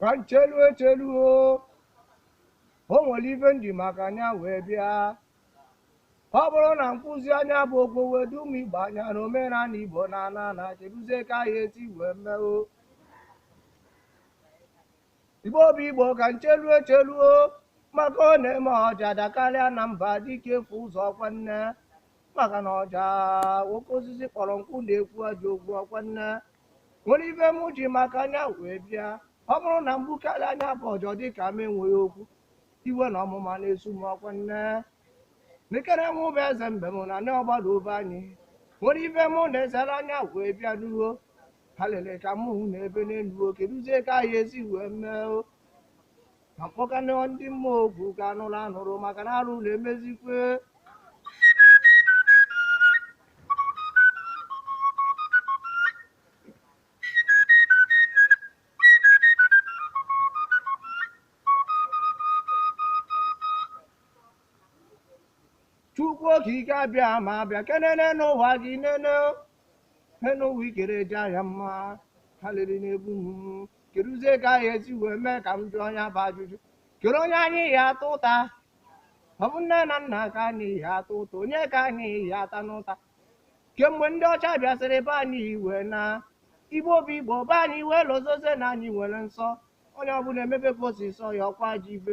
ka m chelu echelu o o nwere ife m ji maka nya wee bịa ọ bụrụ na m kwuzie nya bụ okwu wee dum igbo anyị na omenala igbo na-ana ana keduzi ka anyị esi wee mee o igbo bụ igbo ka m chelu echelu o maka ọ na-eme ọja dakarịa na mba dike efu ụzọ ọkwa nne maka na ọja oke osisi kpọrọ nkụ na-ekwu ajọ okwu ọkwa nne nwere ife m ji maka nya wee bịa ọ bụrụ na m gbukarịa nya bụ ọja dị ka m enweghị okwu iwe na ọnụma na-esu m ọkwa nne nekere m bụ eze mbem na ndị obodo be anyị nwere ife m na-ezere anya wee bịa ruo alịrị ka m hụ na ebe n'elu keduzie ka anyị esi wee mee o ka m kpọkana ndị mmụọ oku ka ha nụrụ anụrụ maka na arụ na-emezikwe chukwu okike abịama bịa kenene n'ụwa gị nene n'ụwa i kere adịghị mma alịrị na-egbu m kedụzie ka anyị esi wee mee ka m jụọ nya bụ ajụjụ kedu onye anyị ya-ata ụta ọ bụ nne na nna ka anyị ya-ata ụta onye ka anyị ya-atanụ ụta kemgbe ndị ọcha bịasịrị be anyị iwe na igbo bụ igbo be anyị wee lozozie na anyị nwere nsọ onye ọbụla emebe ka o si sọ ya ọkwa ajọ ife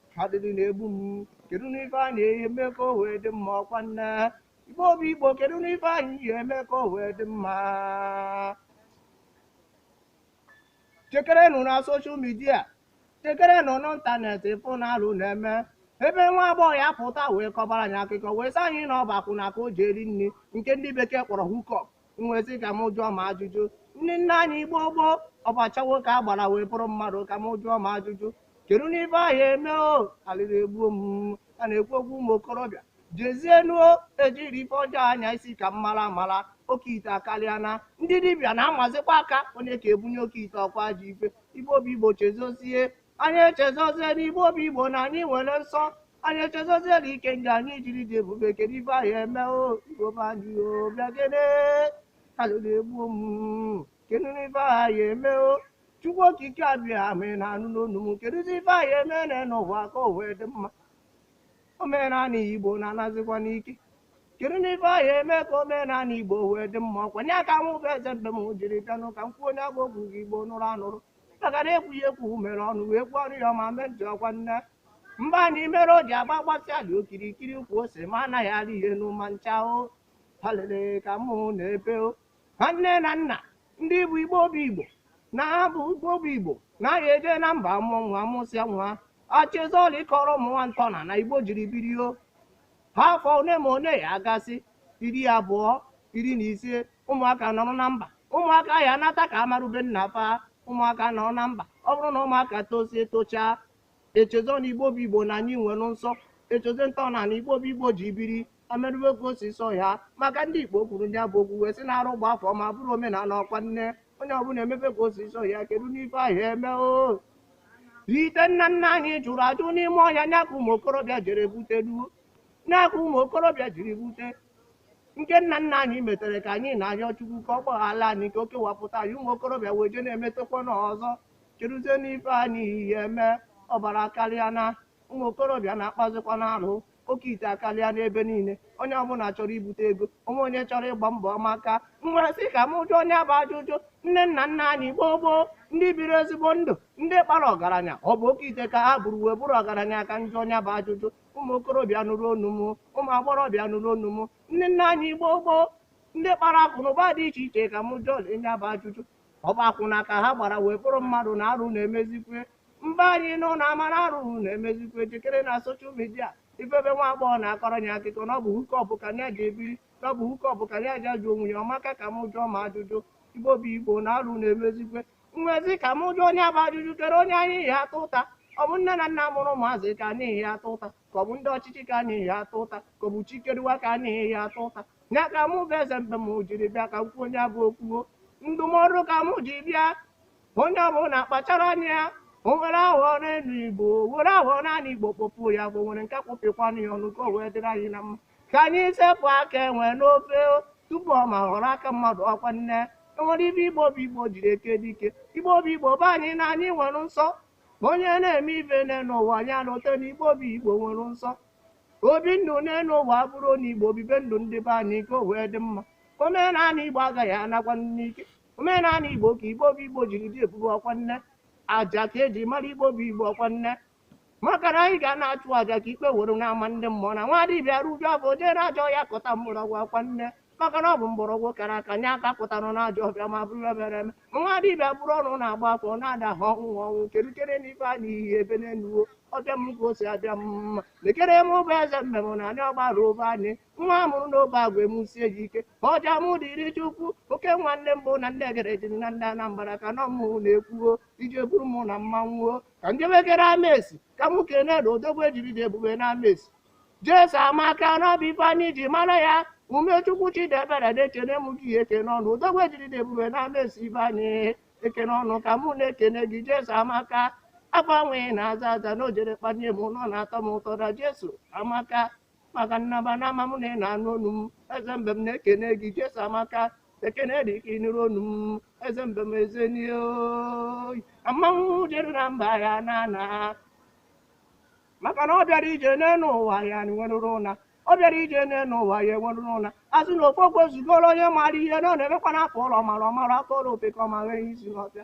alịrị na-egbu m kedu nụ ife a na-eme ka o wee dị mma ọkwa nne igbo bụ igbo kedu nụ ife anyị ya-eme ka o wee dị mma chekerenụ na social media chekerenụ n'internet ị fụ na alụ na-eme ebe nwa agbọghọ ya-apụta wee kọbara anyị akụkọ wee sị anyị na ọ bụ akwụna ka o ji eri nri nke ndị bekee kpọrọ hookup m wee sị ka m jụọ m ajụjụ ndị nna anyị gboo gboo ọ bụ yahoo ka ha gbara wee bụrụ mmadụ ka m jụọ m ajụjụ kedunụ ife a ya-eme o alịrị egbuo m a na-ekwu okwu ụmụ okorobịa jezienuo ejiri ife ọjọọ anya isi ka m mara amara oke ite akarịa na ndị dibịa na-amazikwa aka onye ka ebunye oke ite ọkwa ajọ ife igbo bụ igbo echezozie anyị echezozie n'igbo bụ igbo na anyị nwere nsọ anyị echezozie na ikenga anyị jiri dị ebube kedu ife anyị eme o igbo be anyị o bịa gene alụ na-egbu m kedu ife anyị eme o chukwu okike abịama ị na-anụ n'onu m kedụzi ife anyị eme na n'ụwa ka o wee dị mma omenala igbo na-anazikwa n'ike kedunụ ife anyị eme ka omenala igbo wee dị mma ọkwa nya ka mụ bụ eze mbem jiri bịanụ ka m kwuo nya bụ okwu ka igbo nụrụ anụrụ mpagara ekwughị ekwu mere ọnụ wee kwuo ọrụ ya ọma mee ntị ọkwa nne mba na imere o ji agba gbasị ala okirikiri ukwu ose ma anaghị alị ya enu ma ncha o palele ka mụ na-epe o ha nne na nna ndị bụ igbo bụ igbo na ha bụ igbo bụ igbo anaghị eje na mba mụọ nwa mụsịa nwa echezọla ịkọrọ ụmụ nwa ntọnana igbo jiri biri o ha afọ one ma one ya agasị iri abụọ iri na ise ụmụaka nọrọ na mba ụmụaka ya anata ka amarube nna fa ụmụaka nọrọ na mba ọ bụrụ na ụmụaka tosie tochaa echezo na igbo bụ igbo na anyị nwere nsọ echezo ntọnana igbo bụ igbo ji biri emerube ka o si sọ ya maka ndị igbo kwuru nya bụ okwu wee sị na arụ gbaa afọ ma bụrụ omenala ọkwa nne onye ọbụla emebe ka o si sọ ya kedu ife anyị ya-eme oke ite nna nna anyị jụrụ ajụ n'ime ọhịa nya ka ụmụ okorobịa jere butelu nya ka ụmụ okorobịa jiri bute nke nna nna anyị metere ka anyị na-arịọ Chukwu ka ọ gbaghara anyị ka o kewapụta anyị ụmụ okorobịa wee jee na-emetekwa nya ọzọ keduzi ife anyị ya-eme ọbara akarịa na ụmụ okorobịa na-akpazikwanụ arụ oke ite akarịa n'ebe niile onye ọbụla chọrọ ibute ego o nweghị onye chọrọ ịgba mbọ maka m wee sị ka m jụọ nya bụ ajụjụ ndị nna nna anyị gboo gboo ndị biri ezigbo ndụ ndị kpara ọgaranya ọ bụ oke ite ka ha buru wee bụrụ ọgaranya ka m jụọ nya bụ ajụjụ ụmụ okorobịa nụrụ onu m ụmụ agbọghọbịa nụrụ onu m ndị nna anyị gboo gboo ndị kpara akụ na ụba dị iche iche ka m jụọ nya bụ ajụjụ ọ bụ akwụna ka ha gbara wee bụrụ mmadụ na arụ na-emezikwe mgbe anyị nọ na amara arụ na-emezikwe jekene na social media ị fụ ebe nwa agbọghọ na-akọrọ anyị akụkọ na ọ bụ hookup ka ya ji ebiri na ọ bụ hookup ka ya ji azụ onwe ya o maka ka m jụọ ma ajụjụ igbo bụ igbo na arụ na-emezikwe m wee sị ka m jụọ nya bụ ajụjụ kedu onye anyị ya-ata ụta ọ bụ nne na nna mụrụ ụmụazị ka anyị ya-ata ụta ka ọ bụ ndị ọchịchị ka anyị ya-ata ụta ka ọ bụ chi kere ụwa ka anyị ya-ata ụta ya ka mụ bụ eze mbe m jiri bịa ka m kwuo nya bụ okwu o ndụmọdụ ka mụ ji bịa onye ọbụla kpachara anya ya o nwere aghọ n'elu igbo were aghọ n'anị igbo kpọpụ ya bụ nwere nke kpọpịkwanụ ya ọnụ ka o wee dịrị anyị na mma ka anyị sepụ aka enwe n'ofe tupu ọ ma ghọrọ aka mmadụ ọkwa nne e nwere ife igbo bụ igbo jiri eke dike igbo bụ igbo be anyị na anyị nwere nsọ ma onye na-eme ife nine nwa nya elote na igbo bụ igbo nwere nsọ obi ndụ nne n'ụwa bụrụ na igbo bibe ndụ ndị be anyị ka o wee dị mma omenala igbo agaghị anakwa n'iyi omenala igbo ka igbo bụ igbo jiri dị ebube ọkwa nne nya ka e ji mara igbo bụ igbo ọkwa nne maka na anyị ga na-achụ aja ka ikpe were na-ama ndị mmụọ na nwa dibịa riju afọ jee na ajọ ọfịa kpata mgbọrọgwụ akwa nne maka na ọ bụ mgbọrọgwụ kara aka nye aka pụtara na ajọ ọfịa ma bụrụ ebere eme ma nwa dibịa bụrụ ọnụ na-agba afọ na-ada ha ọnwụ ọnwụ kedu chere n'ife a n'ihi ebe n'enu ụwa ọbịa m ka o si abịa m mma mekere m ụba eze mmemme na anyị ọgbara ụba anyị nwa a mụrụ n'obe agwa emusie ji ike ma ọja mụ dịrị chukwu oke nwanne mbụ na ndị egere ji na ndị anambra ka nọ mụ na-ekwuo ije buru mụ na mmanwụ ka m jebekere amesi ka mụ kene na odogwu ejiri dị ebube na amesi jesu amaka na ọ bụ ife anyị ji mara ya umechukwu chidiebere na ekene m gị ekene ọnụ odogwu ejiri dị ebube na amesi be anyị ekene ọnụ ka mụ na-ekene gị jesu amaka afa nwa ị na-aza aza na o jere kpanye m nọ na-atọ m ụtọ na jesu amaka maka nnaba na ama m na ị na-anụ onu m eze mbe m na-ekene gị jesu amaka ekene dị ka ị nụrụ onu m eze mbe m eze n'ihe amanwụ dịrị na mba ya na ana maka na ọ bịara ije n'elu ụwa ya nwerụrụ ụna ọ bịara ije n'elu ụwa ya enwerụrụ ụna azụ na ofe okwe zugoro onye maara ihe na ọ na-emekwa na a tụọlọ ọmara ọ mara a tụọlọ ofeke ọ manye isi n'ọfịa